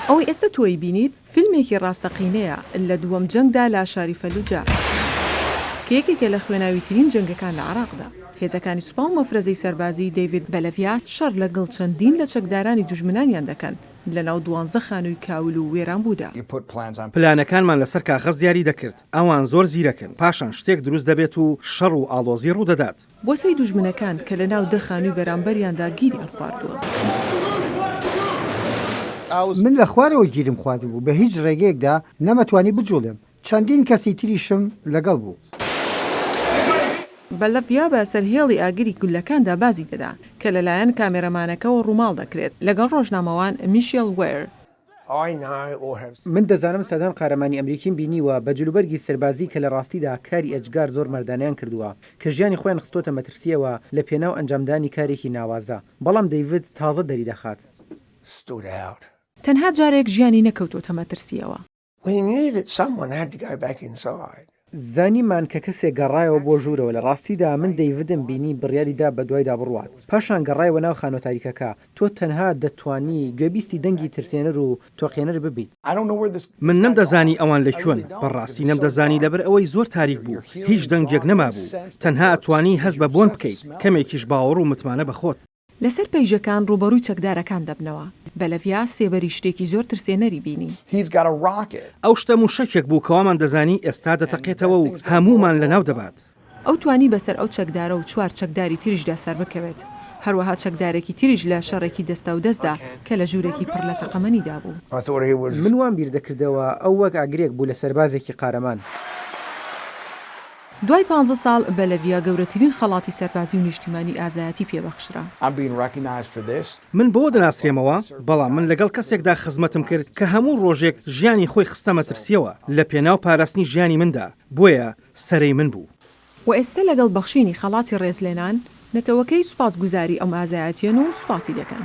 ئەوەی ئێستە تۆی بینیت فیلمێکی ڕاستەقینەیە لە دووەم جەنگدا لە شاری فەلوجە کە یەکێکە لە خوێناویترین جەنگەکان لە عێراقدا هێزەکانی سوپا و مەفرەزەی سەربازی دەیڤید بەلەڤیا شەڕ لەگڵ چەندین لە چەکدارانی دوژمنانیان دەکەن لەناو دوانزە خانووی کاول و وێرانبوودا. پلانەکانمان لەسەر کاغەز دیاری دەکرد، ئەوان زۆر زیرەکن، پاشان شتێک دروست دەبێت و شەڕ و ئاڵۆزی ڕوودەدات. بۆسەی دوژمنەکان کە لە ناو دە خانووی بەرامبەریاندا گیریان خواردووە. من لە خوارەوە گیرم خواردبوو، بە هیچ ڕێگەیەکدا نەمەتوانی بجووڵێم، چەندین کەسی تریشم لەگەڵ بوو. بەلڤیا بە سەر هێڵی ئاگری گوللەکاندا بازی دەدا، کە لەلایەن کامێرەمانەکەوە ڕووماڵ دەکرێت، لەگەڵ ڕۆژنامەوان میشێل وێر. من دەزانم سەدان قارەمانی ئەمریکیم بینیوە بە جلوبەرگی سەربازی کە لە ڕاستیدا کاری ئێجگار زۆر مەردانەیان کردووە کە ژیانی خۆیان خستۆتە مەترسییەوە لە پێناو ئەنجامدانی کارێکی ناوازە بەڵام دەیڤد تازە دەریدەخات. تەنها جارێک ژیانی نەکەوتۆتە مەترسییەوە. When you that someone had to go back inside. زانیمان کە کەسێک گەڕایەوە بۆ ژوورەوە لە ڕاستیدا من دەیڤدم بینی بڕیاری دا بەدوایدا بڕوات پاشان گەڕایەوە ناو خانوە تاریکەکە تۆ تەنها دەتوانی گوێبیستی دەنگی ترسێنەر و تۆقێنەر ببیت. من نەمدەزانی ئەوان لە کوێن بەڕاستی نەمدەزانی لەبەر ئەوەی زۆر تاریک بوو هیچ دەنگێک نەمابوو تەنها ئەتوانی هەست بە بۆن بکەیت کەمێکیش باوەڕ و متمانە بەخۆت. لەسەر پەیژەکان ڕووبەڕووی چەکدارەکان دەبنەوە. بە لەڤیا سێبەری شتێکی زۆر ترسێنەری بینی. ئەو شتە مووشەکێک بوو کەوامان دەزانی ئێستا دەتەقێتەوە و هەموومان لەناو دەبات. ئەو توانی بەسەر ئەو چەکدارە و چوار چەکداری تریشدا سەربکەوێت. هەروەها چەکدارێکی تریش لە شەڕێکی دەستاودەستدا کە لە ژوورێکی پڕ لە تەقەمەنیدا بوو. من وام بیر دەکردەوە ئەو وەک ئاگرێک بوو لە سەربازێکی قارەمان. دوای پانزە ساڵ، بەلەڤیا گەورەترین خەڵاتی سەربازی و نیشتیمانی ئازایەتی پێ بەخشرا. من بەوە دەناسرێمەوە، بەڵام من لەگەڵ کەسێکدا خزمەتم کرد کە هەموو ڕۆژێک ژیانی خۆی خستە مەترسییەوە لە پێناو پاراستنی ژیانی مندا، بۆیە سەرەی من بوو. وە ئێستە لەگەڵ بەخشینی خەڵاتی ڕێزلێنان، نەتەوەکەی سوپاسگوزاری ئەم ئازایەتیەن و سوپاسی دەکەن.